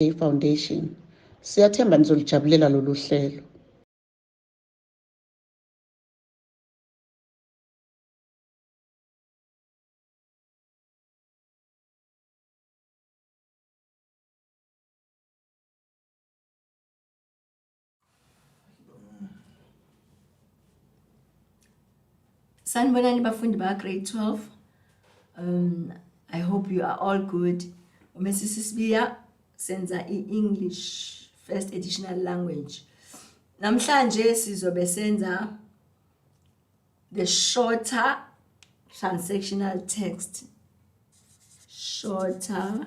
Day Foundation. Siyathemba nizolijabulela lolu hlelo. Sanibonani bafundi ba grade 12. Um I hope you are all good. Umesisi Sibiya senza i-English first additional language. Namhlanje sizobe senza the shorter transactional text. Shorter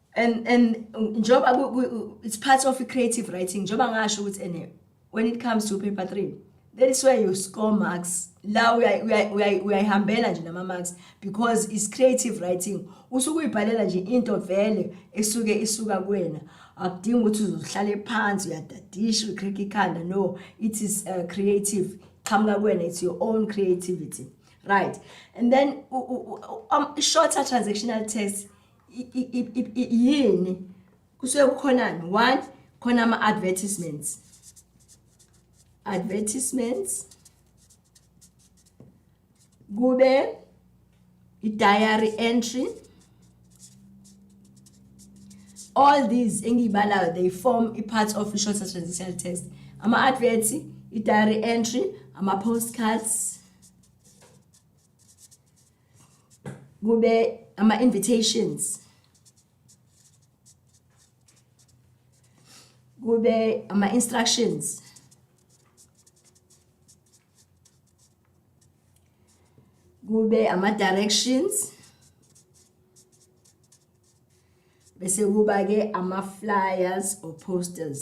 and and njoba it's part of creative writing njoba ngasho ukuthi ene when it comes to paper 3 that is where you score marks la uyayihambela nje nama marks because it's creative writing usuke uyibhalela nje into vele esuke isuka kuwena akudingi ukuthi uzohlale phansi uyadadisha ucrack ikhanda no it is uh, creative qhamuka kuwena it's your own creativity right and then um, shorter transactional test yini kusuke kukhonani one khona ama-advertisements advertisements kube i-diary entry all these engiyibalayo they form i-part of i-short transactional test ama-advert i-diary entry ama-postcards kube ama invitations kube ama instructions kube ama directions bese kuba ke ama flyers or posters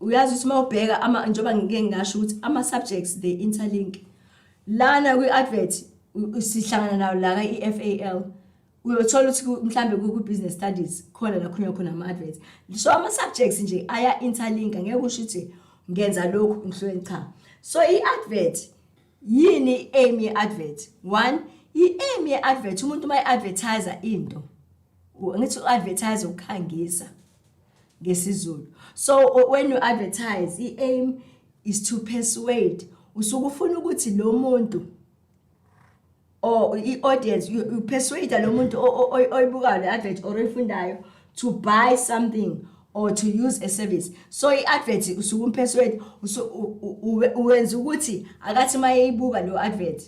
uyazi ukuthi uma ubheka ama njengoba ngike ngasho ukuthi ama subjects they interlink lana kwi advert sihlangana nayo la ka EFAL uyothola ukuthi mhlambe ku business studies khona la khona khona ama adverts so ama subjects nje aya interlink ngeke usho ukuthi ngenza lokhu ngihlwe cha so i advert yini aim ye advert one i aim ye advert umuntu uma i advertiser into ngithi u advertise ukukhangisa ngesizulu so when you advertise i-aim is to persuade usuke ufuna ukuthi lo muntu or i-audience you persuade lo muntu oyibukayo le advert or oyifundayo to buy something or to use a service so i-advert usuke umpersuade uwenza ukuthi akathi uma eyibuka leyo advert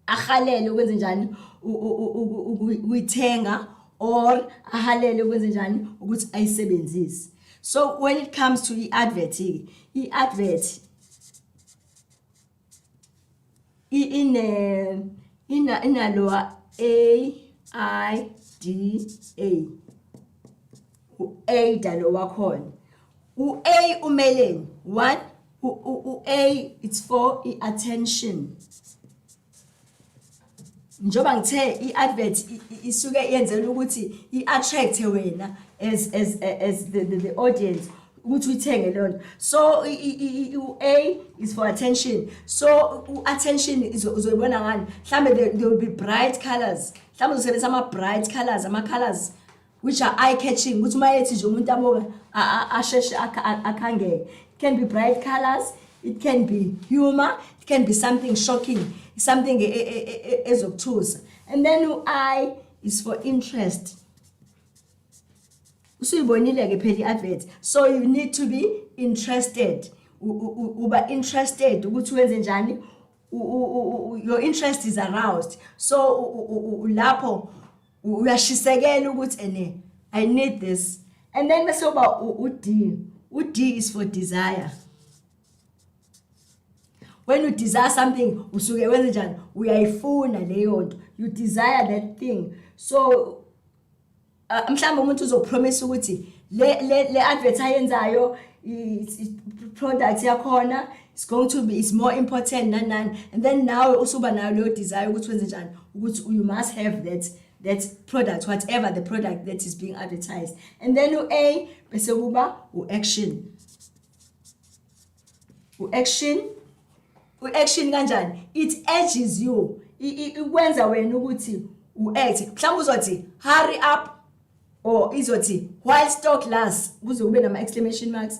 ahalele ukwenze njani ukuyithenga or ahalele ukwenze njani ukuthi ayisebenzise so when it comes to i-advert ke i-advert ine ina inalowa a i d a u-ada lo wakhona u-a umeleni one u-a it's for i-attention njengoba ngithe i-advert isuke yenzela ukuthi i-attract-e wena as, as, as the, the, the audience ukuthi uyithenge leyo nto so u-a is for attention so u-attention uzoyibona ngani mhlawumbe there will be bright colors mhlawumbe uzosebenzisa ama-bright colors ama-colors which are eye catching ukuthi uma ethi nje umuntu abonga asheshe akhangeke it can be bright colors it can be humor it can be something shocking something e, e, e, ezokuthusa and then u-i is for interest usuyibonile ke phela i-advert so you need to be interested uba interested ukuthi wenze njani your interest is aroused so lapho uyashisekela ukuthi ene i need this and then bese uba ud ud is for desire when you desire something usuke wenze njani uyayifuna leyo nto you desire that thing so uh, mhlawumbe umuntu uzopromise ukuthi le le, le advert ayenzayo i product yakhona it's going to be it's more important nani nani and then nawe usuba nayo leyo desire ukuthi wenze njani ukuthi you must have that that product whatever the product that is being advertised and then u-a bese kuba u-action u-action u-action kanjani it edges you ikwenza wena ukuthi u-act mhlawumbe uzothi hurry up or izothi while stock lasts kuze kube nama-exclamation marks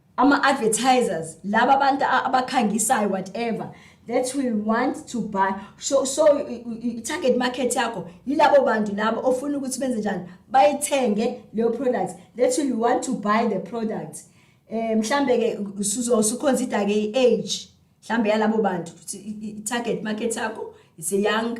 ama advertisers laba abantu abakhangisayo whatever that will want to buy so so target market yakho yilabo bantu labo ofuna ukuthi benze njani bayithenge leyo product that will want to buy the product eh mhlambe ke usuzosuconsider ke i-age mhlambe yalabo bantu target market yakho is a young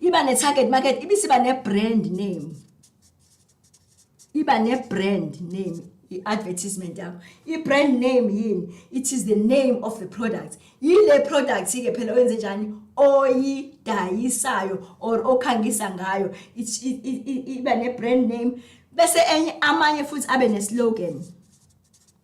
iba ne-target market ibisiba ne-brand name iba ne-brand name i-advertisement yakho i-brand name yini it is the name of the product yile product-ke phela wenze njani oyidayisayo or okhangisa ngayo iba ne-brand name bese enye amanye futhi abe ne-slogan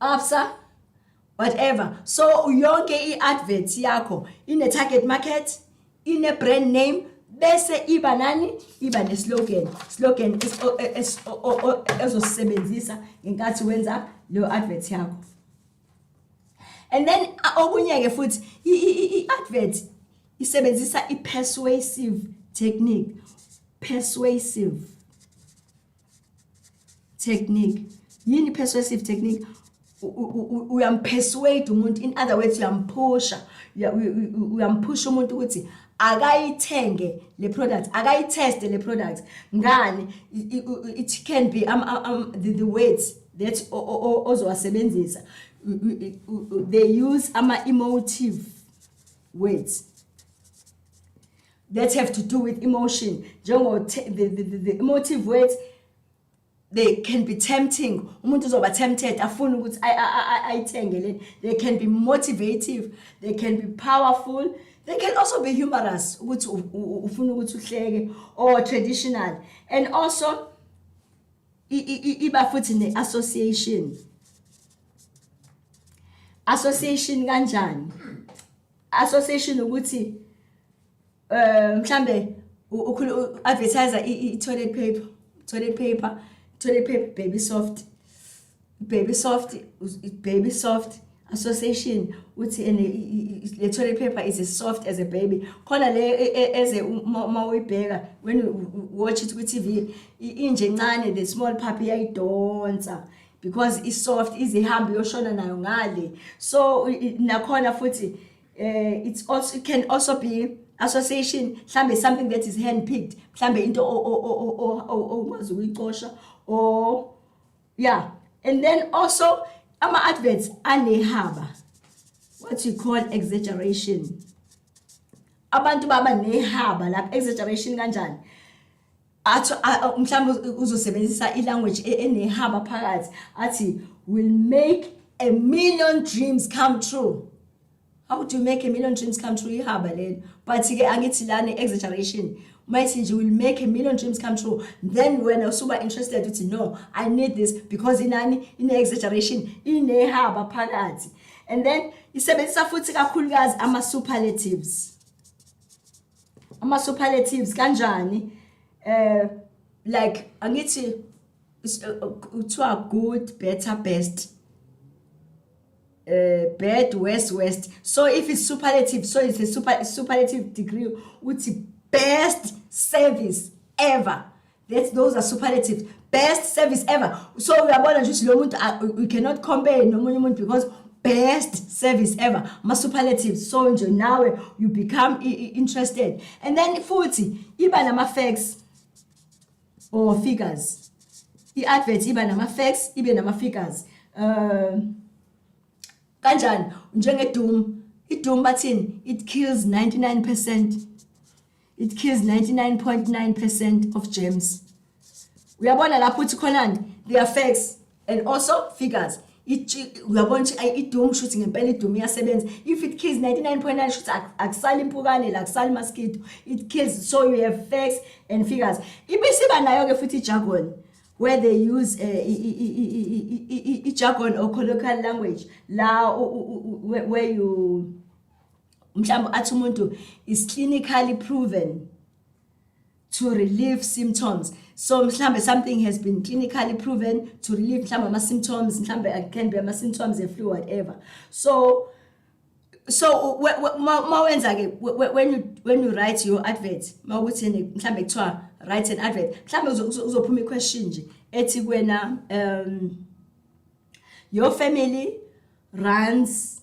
Absa whatever so yonke i-advert yakho ine-target market ine-brand name bese iba nani iba ne-slogan slogan ezosisebenzisa ngenkathi wenza leyo advert yakho and then okunye-ke futhi i-advert isebenzisa i-persuasive technique persuasive technique yini persuasive technique uyampersuade umuntu in other words uyamphusha uyamphusha umuntu ukuthi akayithenge le product akayitheste le product ngani it can be um, um, um, the, the words that ozowasebenzisa they use ama-emotive words that have to do with emotion njengo the, the, the, the emotive words they can be tempting umuntu uzoba tempted afuna ukuthi ayithenge leni they can be motivative they can be powerful they can also be humorous ukuthi ufuna ukuthi uhleke or traditional and also iba futhi ne association association kanjani association ukuthi eh mhlambe ukhulu advertise i toilet paper toilet paper toilet paper baby soft baby soft baby soft association uthi and le toilet paper is as soft as a baby khona le e, e, eze uma uyibheka when you watch it ku TV inje ncane the small puppy yayidonsa because i soft izihamba yoshona nayo ngale so nakhona futhi uh, it's also it can also be association mhlambe something that is hand picked mhlambe into okwazi ukuyicosha or yeah and then also ama adverts anehaba what you call exaggeration abantu baba nehaba lapha exaggeration kanjani athi mhlawumbe uzosebenzisa ilanguage e, enehaba phakathi athi will make a million dreams come true how do you make a million dreams come true ihaba lelo but-ke angithi lana exaggeration uma ithi nje will make a million dreams come true then wena usuba interested uthi no i need this because inani ine-exaggeration inehaba phakathi and then isebenzisa futhi kakhulukazi ama-superlatives ama superlatives kanjani eh like angithi uh, uh, kuthiwa good better best uh, bad worst worst so if it's superlative so it's a super superlative degree uthi best service ever That's those are superlatives. Best service ever. So uyabona nje ukuthi lo muntu ah, we cannot compare nomunye umuntu because best service ever ma superlatives so nje nawe you become interested and then futhi iba nama facts or figures i advert iba nama facts ibe nama figures uh kanjani njenge doom i doom bathini it kills 99% it kills 99.9 percent of germs uyabona lapho uthi khonani the effects and also figures uyabona ukuthi ayi idoom shuthi ngempela idoom iyasebenza if it kills 99.9 shuthi akusali impukane la kusali mosquito it kills so you have facts and figures ibisiba nayo ke futhi ijargon where they use eh, ijargon or colloquial language la where you mhlawumbe athi umuntu is clinically proven to relieve symptoms so mhlambe something has been clinically proven to relieve mhlambe ama symptoms mhlambe can be ama symptoms e flu whatever so so ma wenza ke when you when you write your advert mawukuthi mhlambe kuthiwa write an advert mhlambe uzophuma i question nje ethi kwena um your family runs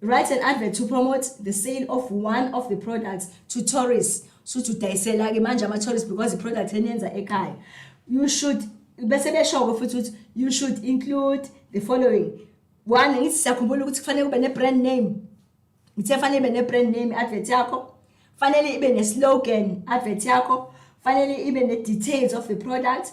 write an advert to promote the sale of one of the products to tourists suthi udayisela-ke manje ama-tourists because i-product eniyenza ekhaya you should bese beshoko futhi ukuthi you should include the following one ngithi siyakhumbula ukuthi kufanele kube ne-brand name ngithe fanele ibe ne-brand name advert yakho fanele ibe ne-slogan advert yakho fanele ibe ne-details of the product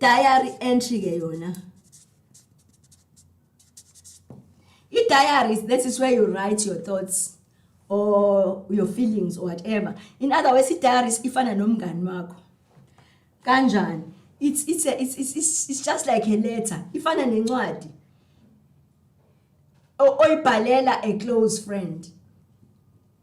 diary entry ke yona i-diaries that is where you write your thoughts or your feelings or whatever in other words i-diaries ifana nomngani wakho kanjani it's, it's, a, it's, it's, it's just like a letter ifana nencwadi oyibhalela a close friend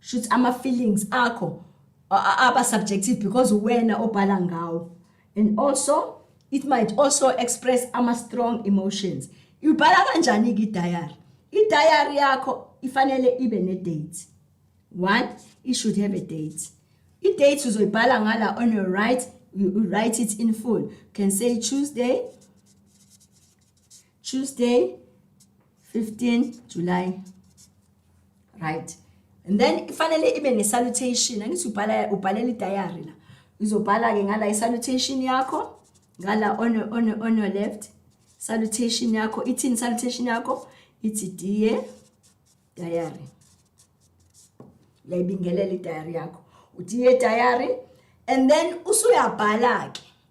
shuthi ama feelings akho aba subjective because uwena obhala ngawo and also it might also express ama strong emotions ubhala kanjani ke diary i diary yakho ifanele ibe ne date one it should have a date i date uzoyibhala ngala on your right you write it in full can say tuesday Tuesday 15 July right and then ifanele ibe ne salutation angithi ubhala ubhalela idiary la uzobhala ke ngala isalutation yakho ngala on on on your left salutation yakho ithini salutation yakho ithi dear diary uyayibingelela idiary yakho uthi ye diary and then usuyabhala ke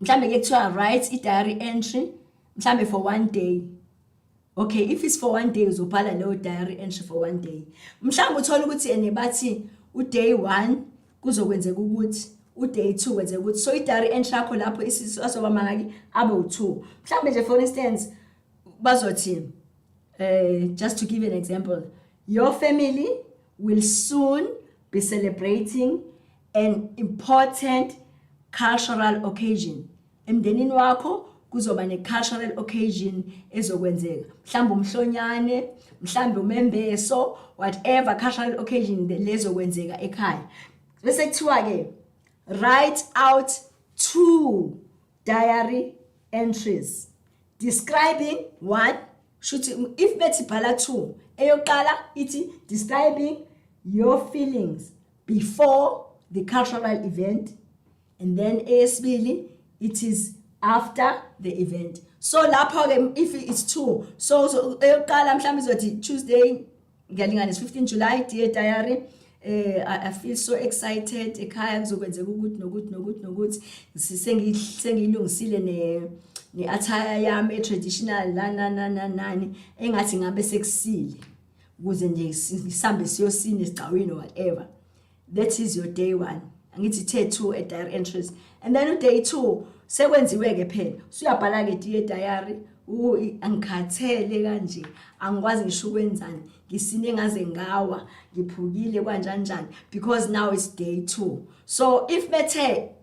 mhlambe ke kuthiwa write i-diary entry mhlambe for one day okay if it's for one day uzobhala leyo diary entry for one day mhlawumbe uthole ukuthi ene bathi uday one kuzokwenzeka ukuthi uday two kwenzeka ukuthi so i-diary entry yakho lapho isisu azoba mangaki abe u-two mhlawumbe nje for instance bazothi um just to give an example your family will soon be celebrating an important cultural occasion emndenini wakho kuzoba ne-cultural occasion ezokwenzeka mhlawumbe umhlonyane mhlawumbe umembeso whatever cultural occasion lezokwenzeka ekhaya bese kuthiwa-ke write out two diary entries describing one shuthi if bethi bhala two eyokuqala ithi describing your feelings before the cultural event and then eyesibili it is after the event so lapho ke if it's two so eyokuqala mhlawumbe izothi Tuesday ngiyalinganisa 15 July dear diary eh I feel so excited ekhaya kuzokwenzeka ukuthi nokuthi nokuthi nokuthi sengilungisile ne ne attire yami traditional la na na na nani engathi ngabe sekusile ukuze nje ngisambe siyosina esigcawini whatever that is your day one angithi the two at diary entries and then uday two sekwenziwe-ke phela usuyabhala-ke diye diary angikhathele kanje angikwazi ngisho ukwenzani ngisine ngaze ngawa ngiphukile kwanjanjani because now is day two so if bethe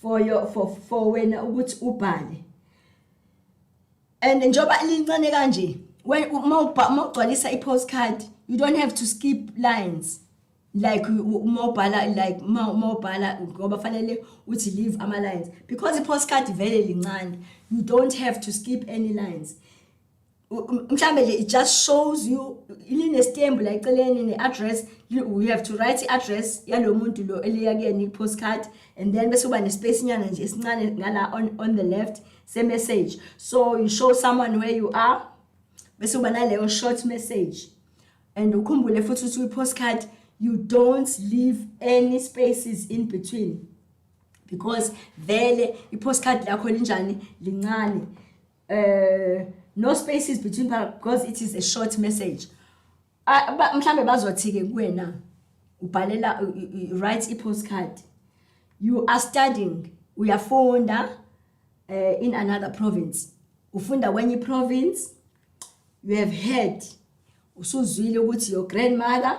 for your for for wena ukuthi ubhale and njoba lincane kanje when uma ugcwalisa i postcard you don't have to skip lines like uma ubhala like uma ubhala ngoba fanele uthi leave ama lines because i postcard vele lincane you don't have to skip any lines mhlambe nje it just shows you linestembu la eceleni ne-address you have to write i-address yalo muntu lo eliya kuyena i-postcard and then bese uba ne-space nyana nje esincane ngala on, on the left se-message so you show someone where you are bese uba naleyo short message and ukhumbule futhi ukuthi kwi-postcard you don't leave any spaces in between because vele i-postcard lakho linjani lincane uh, no spaces between because it is a short message ah, mhlambe bazothi-ke kuwena ubhalela write i-postcard you are studying uyafunda uh, in another province ufunda kwenye i-province you have heard usuzwile ukuthi your grandmother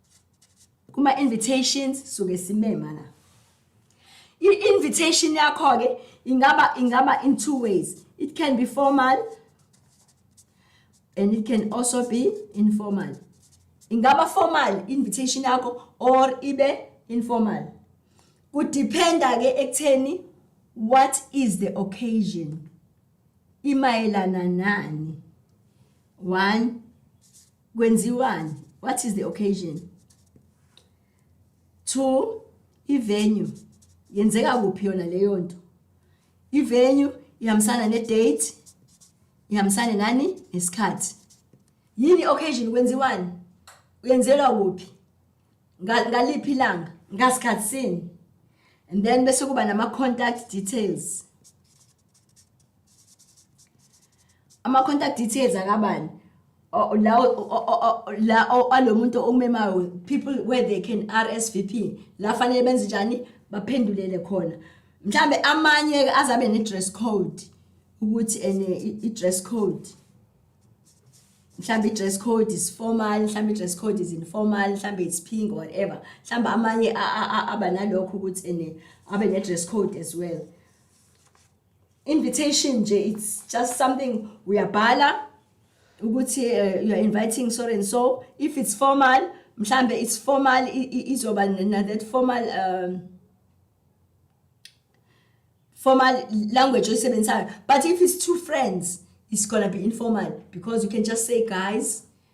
kuma invitations suke simema la i-invitation yakho ke ingaba ingaba in two ways it can be formal and it can also be informal ingaba formal invitation yakho or ibe informal kudependa ke ekutheni what is the occasion imayelana nani one kwenziwani what is the occasion two ivenue yenzeka kuphi yona leyo nto ivenue ihambisana nedate ihambisane nani nesikhathi yini occasion kwenziwani uyenzelwa kuphi ngaliphi ilanga ngasikhathi sini and then bese kuba nama contact details ama-contact details akabani la alomuntu okumemayo people where they can RSVP la fanele benze njani baphendulele khona mhlambe amanye azabe ne dress code ukuthi ene i dress code mhlambe dress code is formal mhlambe dress code is informal mhlambe it's pink or whatever mhlambe amanye abanalokho ukuthi ene abe ne dress code as well invitation nje it's just something uyabhala ukuthi uh, you are inviting so and so if it's formal mhlambe it's formal izoba na that formal um formal language oyisebenzisayo but if it's two friends it's gonna be informal because you can just say guys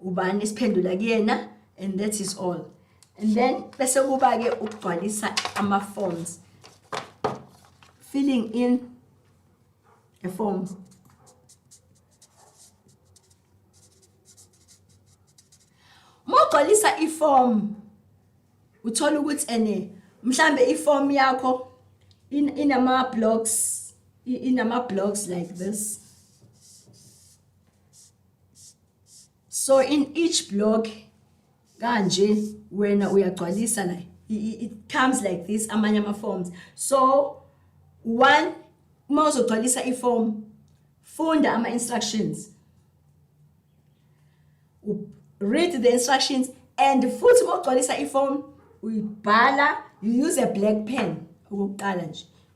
ubani siphendula kuyena and that is all and then bese kuba ke ukugcwalisa ama forms filling in the forms Mawugcwalisa iform uthola ukuthi ene mhlambe iform yakho inama blocks inama blocks like this so in each block kanje wena uyagcwalisa la it comes like this amanye ama forms so one uma uzogcwalisa iform funda ama instructions read the instructions and futhi uma ugcwalisa iform uyibhala you use a black pen okokuqala nje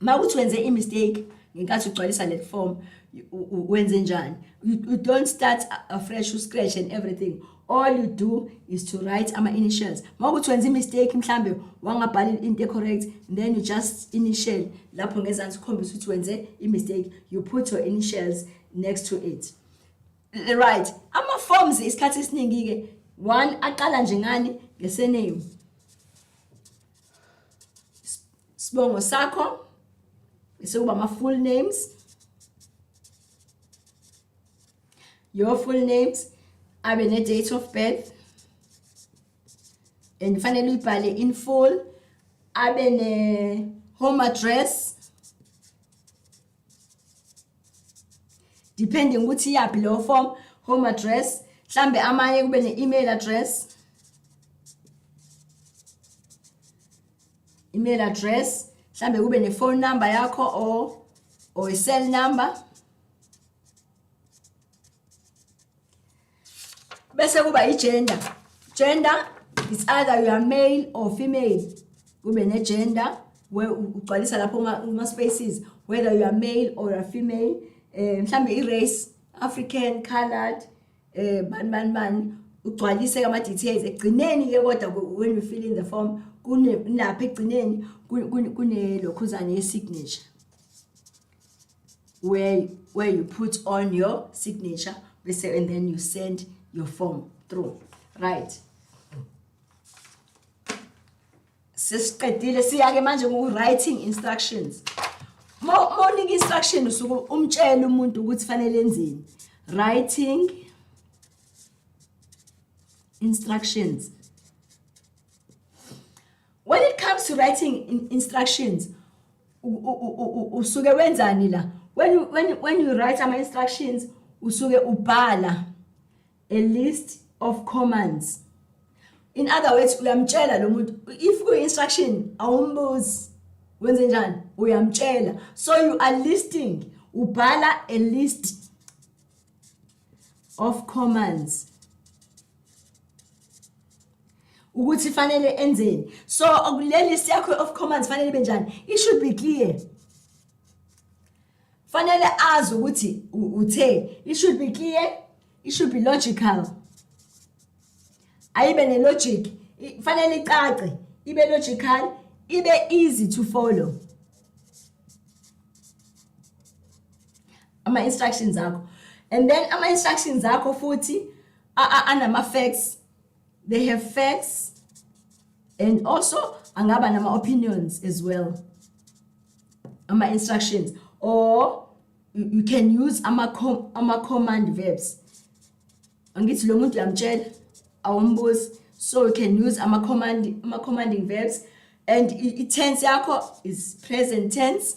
mawuthi wenze imistake ngenkathi ugcwalisa le form wenze njani you don't start afresh uscratch and everything all you do is to write ama-initials uma ukuthi wenza imistake mhlawumbe wangabhali into ecorrect then you just initial lapho ngezansi ukhombisa ukuthi wenze imistake you put your initials next to it right ama-forms isikhathi esiningi-ke one aqala nje ngani ngesename Sibongo sakho sekuba ama full names. Your full names abe ne date of birth and fanele uyibhale in full abe ne home address depending ukuthi iyaphi leyo form home address mhlambe amanye kube ne-email address email address mhlambe kube ne-phone number yakho or or i-cell number bese kuba i-gender gender is either you are male or female kube ne-gender ugcwalisa lapho kuma-spaces whether you are male or a female um mhlawumbe i-race african colored um bani bani bani ugcwalise ama-details ekugcineni-ke kodwa when you fill in the form kunapha ekugcineni kunelokhuzane ye-signature where where you put on your signature bese and then you send your form through right sesiqedile siyake manje ku writing instructions morning instruction usuku umtshela umuntu ukuthi fanele enzeni writing instructions when it comes to writing in instructions usuke wenzani la when you, when, you, when you write ama instructions usuke ubhala a list of commands in other words uyamtshela lo muntu if ku instruction awumbuzi wenze njani uyamtshela so you are listing ubhala a list of commands ukuthi fanele enzeni so le list yakho of commands fanele ibe njani it should be clear fanele azi ukuthi uthe it should be clear it should be logical ayibe ne logic fanele icace ibe logical ibe easy to follow ama instructions akho and then ama instructions akho futhi a- a- anama-facts they have facts and also angaba nama-opinions as well ama-instructions or you, you can use ama-com- ama-command verbs angithi lo muntu uyamtshela awumbuzi so you can use ama-command- ama-commanding verbs and i- i-tense yakho is present tense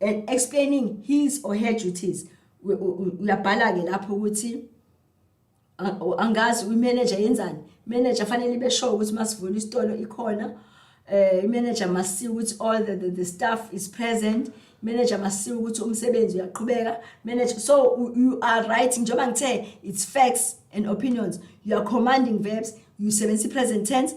and explaining his or her duties uyabhala ke lapho ukuthi angazi uyi-manager yenzani manager fanele ibe sure ukuthi masivula isitolo ikhona eh manager masiwe ukuthi all the, the, the staff is present manager masiwe ukuthi umsebenzi uyaqhubeka manager so you are right njengoba ngithe it's facts and opinions you are commanding verbs you sebenzisa i-present tense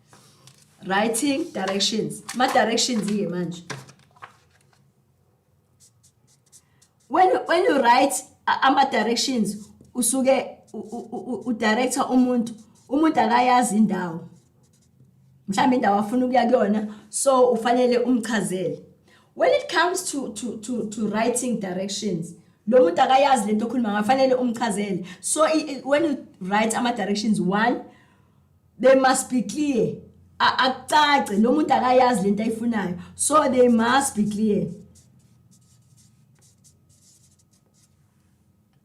writing directions ma directions ke manje when when you write ama directions usuke u director umuntu umuntu akayazi indawo mhlawumbe indawo afuna ukuya kuyona so ufanele umchazele when it comes to to to to writing directions lo muntu akayazi lento okhuluma ngafanele umchazele so when you write ama directions 1 they must be clear akucace lo muntu akayazi lento ayifunayo so they must be clear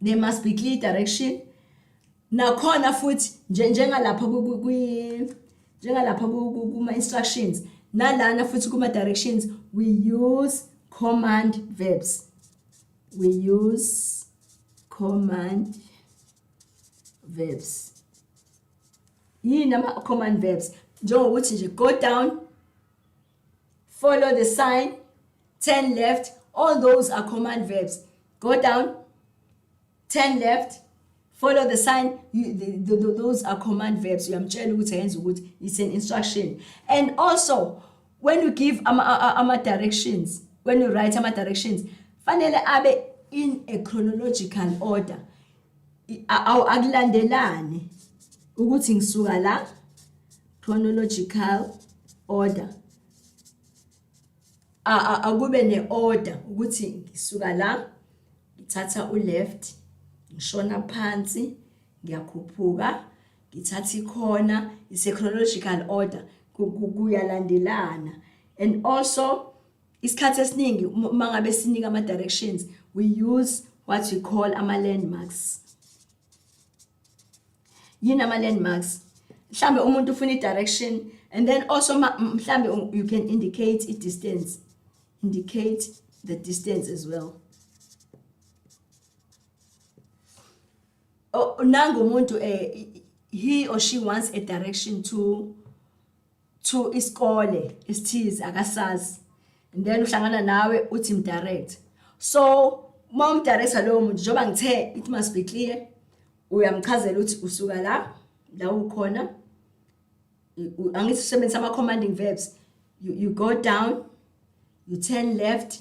they must be clear direction nakhona futhi njengalapha kwi njengalapha kuma instructions nalana futhi kuma directions we use command verbs we use command verbs yini ama command verbs njengokuthi nje go down follow the sign turn left all those are command verbs go down turn left follow the sign you, the, the, the, those are command verbs uyamtshela ukuthi ayenza ukuthi it's an instruction and also when you give ama, ama directions when you write ama directions fanele abe in a chronological order awu akulandelani ukuthi ngisuka la chronological order akube ne-order ukuthi ngisuka la ngithatha u-left ngishona phansi ngiyakhuphuka ngithatha ikhona ise-chronological order kuyalandelana and also isikhathi esiningi uma ngabe sinika ama-directions we use what we call ama-landmarks yini ama-landmarks mhlawumbe umuntu ufuna i-direction and then also mhlawumbe you can indicate i-distance indicate the distance as well oh, nangu umuntu eh, he or she wants a direction to to isikole isithize akasazi and then uhlangana nawe uthi mdirect so uma umdirector lowo muntu njengoba ngithe it must be clear uyamchazela ukuthi usuka la la ukhona angithi usebenzisa ama commanding verbs you, you go down you turn left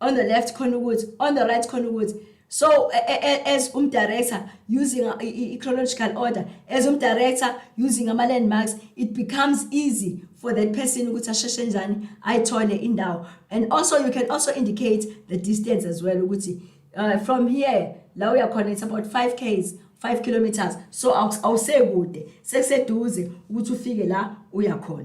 on the left khona ukuthi on the right khona ukuthi so as um director using i chronological order as um director using ama landmarks it becomes easy for that person ukuthi asheshe njani ayithole indawo and also you can also indicate the distance as well ukuthi uh, from here la uya khona it's about 5 k's 5 kilometers so awusekude sekuseduze ukuthi ufike la uya khona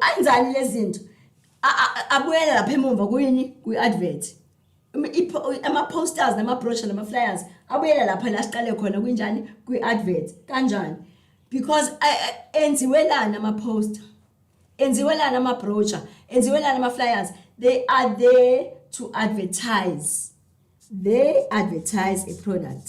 anjani lezinto abuyele lapha emumva kuyini kwi-advert ama-posters nama-brochure nama-flyers abuyele lapha la siqale khona kunjani kwi-advert kanjani because enziwe lana ama-poster enziwe lana ama-brochure enziwe lana ama-flyers they are there to advertise they advertise a product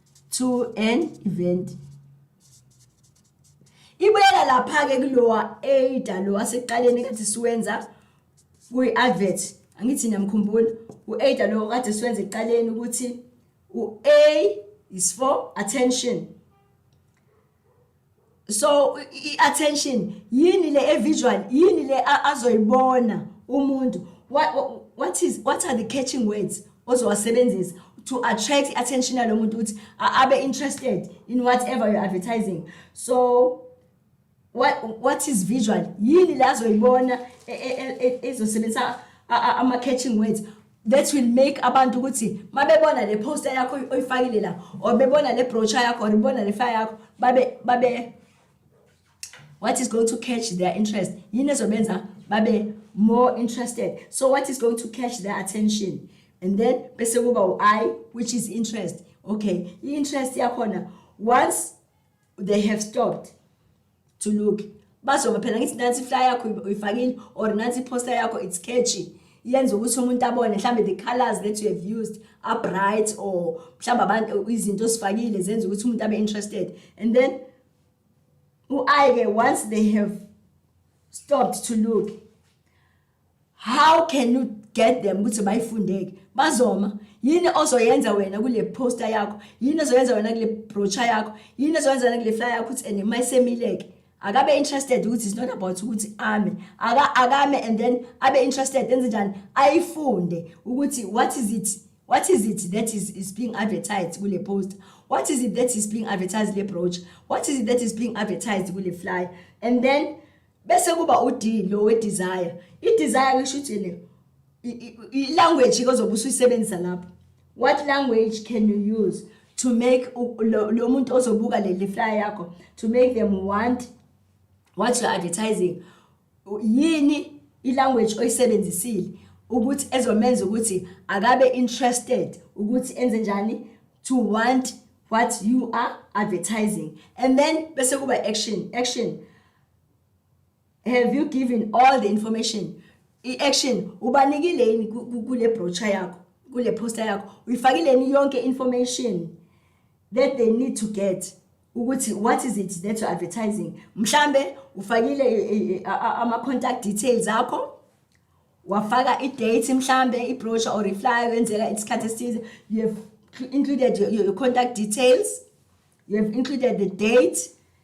to an event ibuyela lapha-ke kulowa ada lo wasekuqaleni kade siwenza kuyi-advert angithi niyamkhumbula u-ada lo kade siwenza ekuqaleni ukuthi u-a is for attention so i-attention yini le e-visual yini le azoyibona umuntu what, what, is, what are the catching words ozowasebenzisa to attract i-attention yalo muntu ukuthi abe interested in whatever you're advertising so what, what is visual yini le azoyibona ezosebenzisa ama-catching words that will make abantu ukuthi mabebona le poster yakho oyifakile la or bebona le brochure yakho or bebona le fire yakho babe babe what is going to catch their interest yini ezobenza babe more interested so what is going to catch their attention and then bese kuba u-i which is interest okay i-interest yakhona once they have stopped to look bazoma phela ngithi nansi fly yakho uyifakile or nansi poster yakho it's catchy yenza ukuthi umuntu abone mhlambe the colors that you have used are bright or mhlambe abantu izinto osifakile zenza ukuthi umuntu abe interested and then uaye once they have stopped to look how can you get them ukuthi bayifundeke bazoma yini ozoyenza wena kule poster yakho yini ozoyenza wena kule brochure yakho yini ozoyenza wena kule flyer yakho ukuthi and mayisemileke akabe interested ukuthi it's not about ukuthi ame aka akame and then abe interested enze njani ayifunde ukuthi what is it what is it that is is being advertised kule poster what is it that is being advertised le brochure what is it that is being advertised kule flyer and then bese kuba uD lo we desire i desire ngisho ukuthi le i language kozobe usuyisebenzisa lapho what language can you use to make lo muntu ozobuka le flyer yakho to make them want what you advertising yini i language oyisebenzisile ukuthi ezomenza ukuthi akabe interested ukuthi enze njani to want what you are advertising and then bese kuba action action have you given all the information i-action ubanikile yini kule brochure yakho kule poster yakho uyifakileni yonke information that they need to get ukuthi what is it that you're advertising mhlambe ufakile eh, eh, eh, ama contact details akho wafaka i-date mhlambe i-brochure or iflyer wenzeka isikhathi esithize you have included your, your contact details you have included the date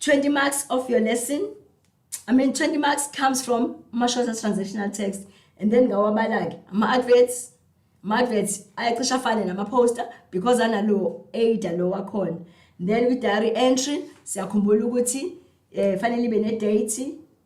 20 marks of your lesson i mean 20 marks comes from amashosa transactional text and then ngawabala-ke ama-adverts ama-adverts ayacisha afane nama-poster because analowo ada lo wakhona then kwi-diary entry siyakhumbula ukuthi um eh, fanele ibe ne-date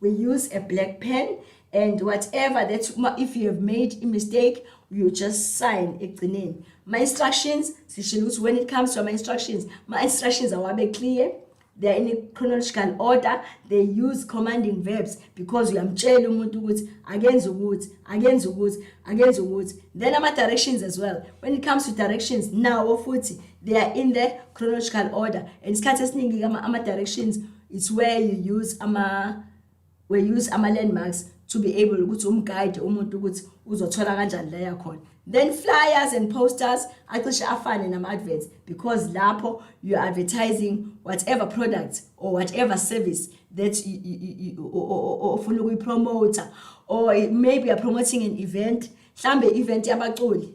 we use a black pen and whatever that if you have made a mistake you just sign ekugcineni my instructions sishilo ukuthi when it comes to my instructions my instructions awabe clear they are in a chronological order they use commanding verbs because uyamtshela umuntu ukuthi akenze ukuthi akenze ukuthi akenze ukuthi then ama directions as well when it comes to directions nawo futhi they are in the chronological order and isikhathi esiningi ama directions it's where you use ama we use ama landmarks to be able ukuthi umguide umuntu ukuthi uzothola kanjani la yakhona then flyers and posters acishe afane nama adverts because lapho you are advertising whatever product or whatever service that ofuna ukuyipromoter or maybe you are promoting an event mhlambe event yabaculi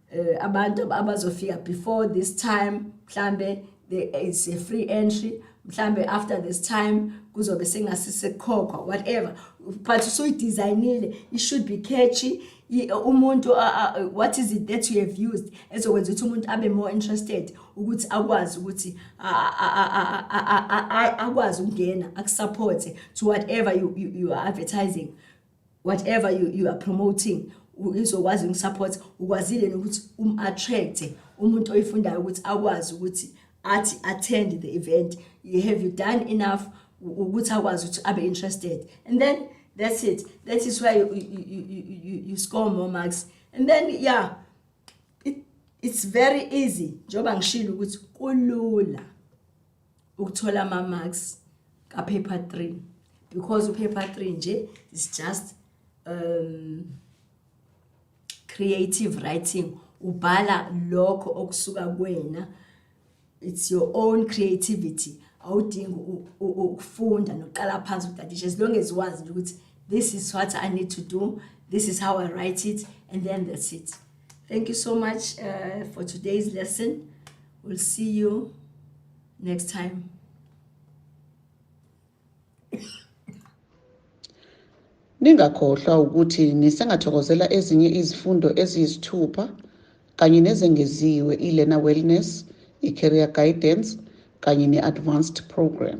eh, abantu abazofika before this time mhlambe there is a free entry mhlambe after this time kuzobe sengasisekhokhwa whatever but usuyidesignile it should be catchy umuntu what is it that you have used ezokwenza ukuthi umuntu abe more interested ukuthi akwazi ukuthi akwazi ukungena akusupporte to whatever you, you, you are advertising whatever you, you are promoting izokwazi ukusupporta ukwazile nokuthi um-attracte umuntu oyifundayo ukuthi akwazi ukuthi athi attend the event you have you done enough ukuthi akwazi ukuthi abe interested and then that's it that is where you, you, you, you, you score more marks and then yeah it, it's very easy njengoba ngishilo ukuthi kulula ukuthola ama-marks kapaper three because upaper three nje is just um, creative writing ubhala lokho okusuka kwena it's your own creativity awudingi ukufunda noqala phansi ukudadisha as long as wazi ukuthi this is what i need to do this is how i write it and then that's it Thank you so much uh, for today's lesson. We'll see you next time. Ningakhohlwa ukuthi nisengathokozela ezinye izifundo eziyisithupha kanye nezengeziwe i-Learner Wellness, i-Career Guidance kanye ne-Advanced Program.